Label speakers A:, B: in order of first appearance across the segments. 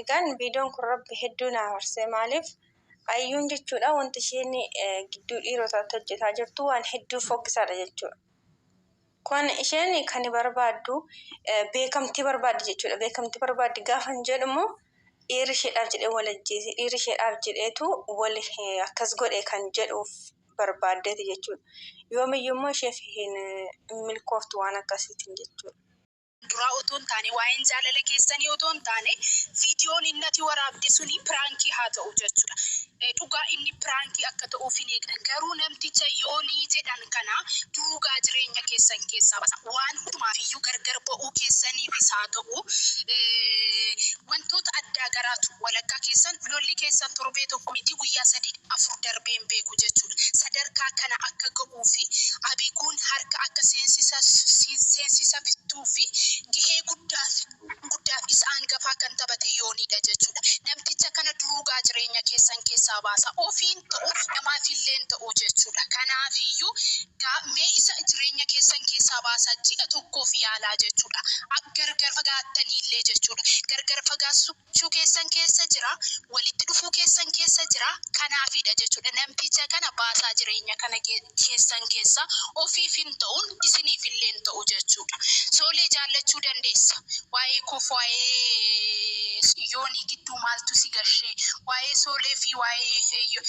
A: Egaan videon kun rabbi hedduu na aarse maaliif ayyuun jechuudha wanti isheen gidduu dhiirotaatti hojjetaa jirtu waan hedduu fokkisaadha jechuudha. Kun isheen kan barbaaddu beekamtii barbaaddi jechuudha. Beekamtii barbaaddi gaafan jedhu immoo dhiirri isheedhaaf jedhee wal ajjeese dhiirri isheedhaaf jedheetu wal akkas godhe kan jedhuuf barbaaddeeti jechuudha. Yoomiyyuu immoo isheef hin milkooftu waan akkasiitiin jechuudha. duraa otoo
B: hin taane waa'een jaalala keessanii otoo hin taane viidiyoon inni ati waraabde suni piraankii haa ta'u jechuudha. Eh, Dhugaa inni piraankii akka ta'uuf hin eegna garuu namticha yoonii jedhan kana durugaa jireenya keessan keessaa basa waan hundumaaf iyyuu gargar ba'uu keessaniifis haa ta'u eh, wantoota addaa garaatu walakkaa keessan lolli keessan torbee tokko miti guyyaa sadii afur darbee hin beeku jechuudha. Sadarkaa kana akka ga'u Abiiguu fi Abiiguun harka akka seensisaftuu fi gahee guddaaf isa angafaa kan tabate Yoonii dha jechuudha. Namticha kana duruugaa jireenya keessan keessaa baasaa. Ofiin ta'u namaaf illeen ta'u jechuudha. Kanaafiyyuu gaa mee isa jireenya keessan keessaa baasaa ji'a tokkoof yaalaa jechuudha. Gargar fagaattanii illee jechuudha. Gargar fagaassuu. Jechuu keessan keessa jira. Walitti dhufuu keessan keessa jira. Kanaafidha jechuudha namticha kana baasaa jireenya kana keessan keessa ofiif hin ta'uun isiniif illee hin ta'u jechuudha. Soolee jaallachuu dandeessa. Waa'ee koof waa'ee yoonii gidduu maaltu si gashee? Waa'ee soolee fi waa'ee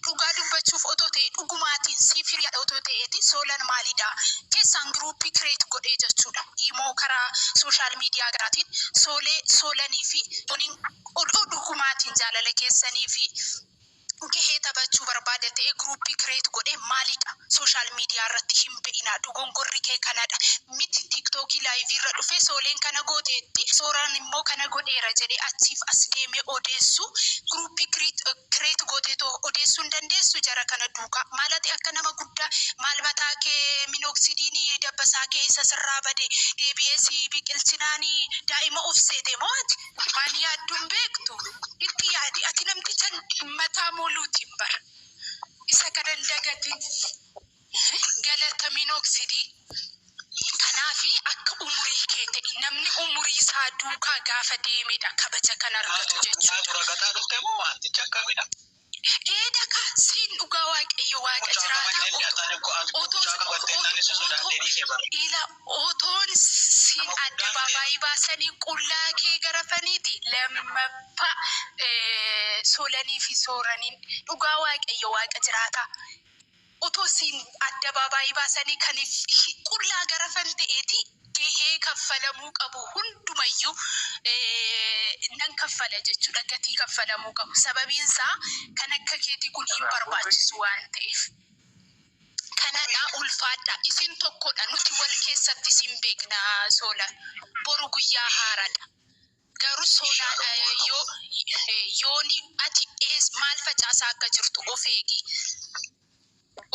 B: Dhugaa dubbachuuf otoo ta'ee dhugumaatiin siif hiriyaadha otoo ta'eeti soolan maalidha keessaan group create godhee jechuudha imoo karaa social media garaatiin soolee soolanii fi tuniin odoo dhugumaatiin jaalala keessanii fi gahee taphachuu barbaada ta'ee group create godhee maalidha Social media irratti hin ba'inaa dogongorri kee kanadha miti tiktok live irra dhufee sooleen kana gooteetti sooraan immoo kana godheera jedhee achiif as deemee odeessu group create gooteetoo odeessuu hin dandeessu jara kana duuka maal ati akka nama guddaa maal mataa kee minoxidine dabbasaa kee isa sirraa bade deebi'ee si biqilchinaani daa'ima of seete moo ati waan yaaddu hin beektu itti yaadi ati namticha mataa moluutiin bara. Isa kana hin dagatin. Galatamiin oksidii. Kanaafi akka umurii kee ta'i. Namni umurii isaa duukaa gaafa deemedha kabaja kan argatu jechuudha. Ragataa dhufte moo waantichi akkamidha? Ee daka siin dhugaa waaqayyo waaqa jiraata otoo otoo ila Otoon siin addabaabaayii baasanii qullaa kee garafaniiti lammaffaa Soolanii fi Sooraniin dhugaa Waaqayyo Waaqa jiraataa otoo siin addabaabaayii baasanii kan qullaa garafan ta'eeti gahee kaffalamuu qabu hundumayyuu nan kaffala jechuudha gatii kaffalamuu qabu sababiin isaa kan akka keetii kun hin barbaachisu waan ta'eef. Kanadhaa ulfaadhaa isin tokkodha nuti wal keessatti isin beekna soola boru guyyaa haaradha garuu soolaadha yoo yooni ati ees maal facaasaa akka jirtu of eegi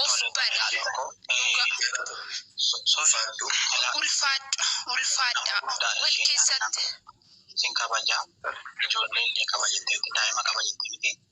B: of bari dhugaa ulfaadha ulfaadhaa wal keessatti. Isin kabaja ijoollee illee qaba jetteetti daa'ima qaba jettee miti